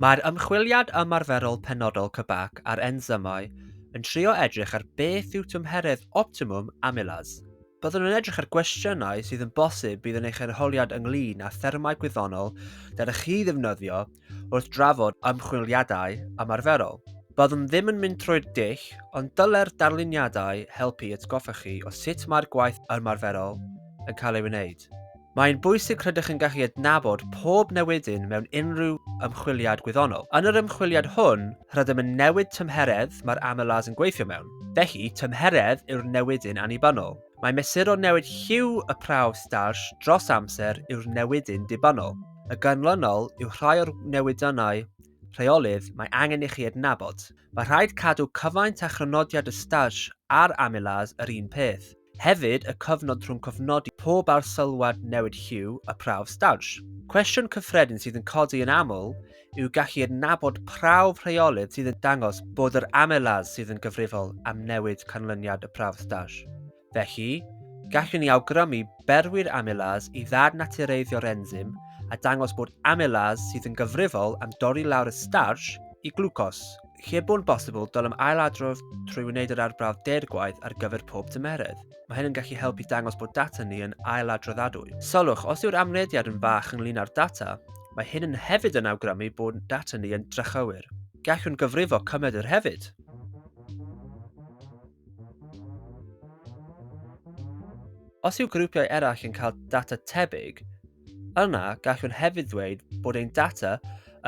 Mae'r ymchwiliad ymarferol penodol CBAC ar ensymau yn trio edrych ar beth yw tymheredd optimwm amylas. Byddwn yn edrych ar gwestiynau sydd yn bosib bydd yn eich arholiad ynglŷn â thermau gwyddonol dylech chi ddefnyddio wrth drafod ymchwiliadau ymarferol. Byddwn ddim yn mynd trwy'r dull, ond dylai'r darluniadau helpu i atgoffa chi o sut mae'r gwaith ymarferol yn cael ei wneud. Mae'n bwysig rydych yn gallu adnabod pob newidyn mewn unrhyw ymchwiliad gwyddonol. Yn yr ymchwiliad hwn, rydym yn newid tymheredd mae'r amylase yn gweithio mewn. Felly, tymheredd yw'r newidyn annibynnol. Mae mesuro newid lliw y prawf starch dros amser yw'r newidyn dibynnol. Y ganlynol yw rhai o'r newidynnau rheolydd mae angen i chi adnabod. Mae rhaid cadw cyfaint a chrynodiad y Stage a'r Amylase yr un peth. Hefyd, y cyfnod rhwng cofnodi pob arsylwad newid lliw a prawf Stage. Cwestiwn cyffredin sydd yn codi yn aml yw gallu adnabod prawf rheolydd sydd yn dangos bod yr Amylase sydd yn gyfrifol am newid canlyniad y prawf Stage. Felly, gallwn ni awgrymu berwi'r amylas i ddad natureiddio'r enzym a dangos bod amylas sydd yn gyfrifol am dorri lawr y starch i glwcos. Lle bo'n bosibl, dylem ailadrodd trwy wneud yr arbrawf deirgwaith ar gyfer pob tymeredd. Mae hyn yn gallu helpu dangos bod data ni yn ailadroddadwy. Sylwch, os yw'r amrediad yn fach ynglyn â'r data, mae hyn yn hefyd yn awgrymu bod data ni yn drychywir. Gallwn gyfrifo cymed yr hefyd. Os yw grwpiau eraill yn cael data tebyg, yna gallwn hefyd ddweud bod ein data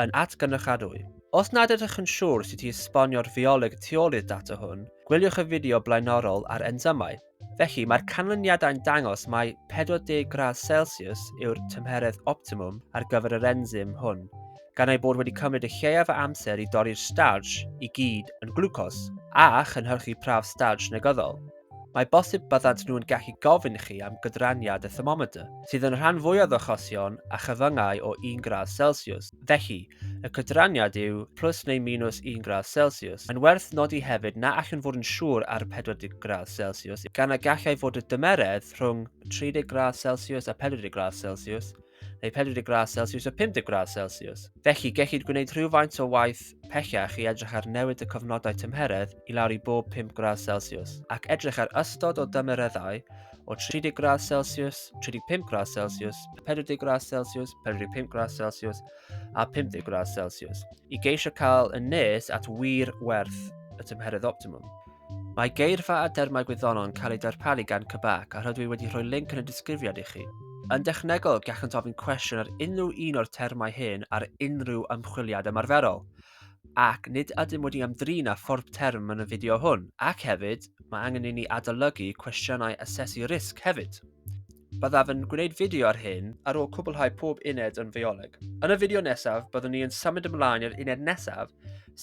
yn atgynrychiadwy. Os nad ydych yn siŵr sut i esbonio'r fioleg tu ôl i'r data hwn, gwyliwch y fideo blaenorol ar ensymau. Felly, mae'r canlyniadau'n dangos mai 40 gradd Celsius yw'r tymheredd optimwm ar gyfer yr ensym hwn, gan ei bod wedi cymryd y lleiaf o amser i dorri'r starch i gyd yn glwcos a chynhyrchu prawf starch negyddol. Mae bosib byddant nhw'n gallu gofyn chi am gydraniad y thermometr, sydd yn y rhan fwyaf o achosion a chyfyngau o 1 gradd Celsius. Felly, y cydraniad yw plus neu minus 1 gradd Celsius. Mae'n werth nodi hefyd na allwn fod yn siŵr ar 40 gradd Celsius, gan y gallai fod y dymeredd rhwng 30 gradd Celsius a 40 gradd Celsius, neu 40 gradd Celsius a 50 gradd Celsius. Felly, gellid gwneud rhywfaint o waith pellach i edrych ar newid y cyfnodau tymheredd i lawr i bob 5 gradd Celsius, ac edrych ar ystod o dymereddau o 30 gradd Celsius, 35 gradd Celsius, 40 gradd Celsius, 45 gradd Celsius a 50 gradd Celsius, i geisio cael yn nes at wir werth y tymheredd optimum. Mae geirfa a dermau gwyddonol yn cael eu darparu gan Cybac a rydw i wedi rhoi linc yn y disgrifiad i chi. Yn dechnegol, gallent ofyn cwestiwn ar unrhyw un o'r termau hyn ar unrhyw ymchwiliad ymarferol, ac nid ydym wedi ymdrin â phorb term yn y fideo hwn, ac hefyd, mae angen i ni adolygu cwestiynau asesu risg hefyd. Byddaf yn gwneud fideo ar hyn ar ôl cwblhau pob uned yn fioleg. Yn y fideo nesaf, byddwn ni yn symud ymlaen i'r uned nesaf,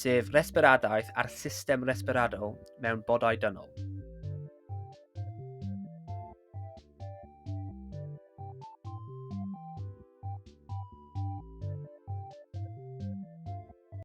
sef resbiradaeth a'r system resbiradol mewn bodau dynol.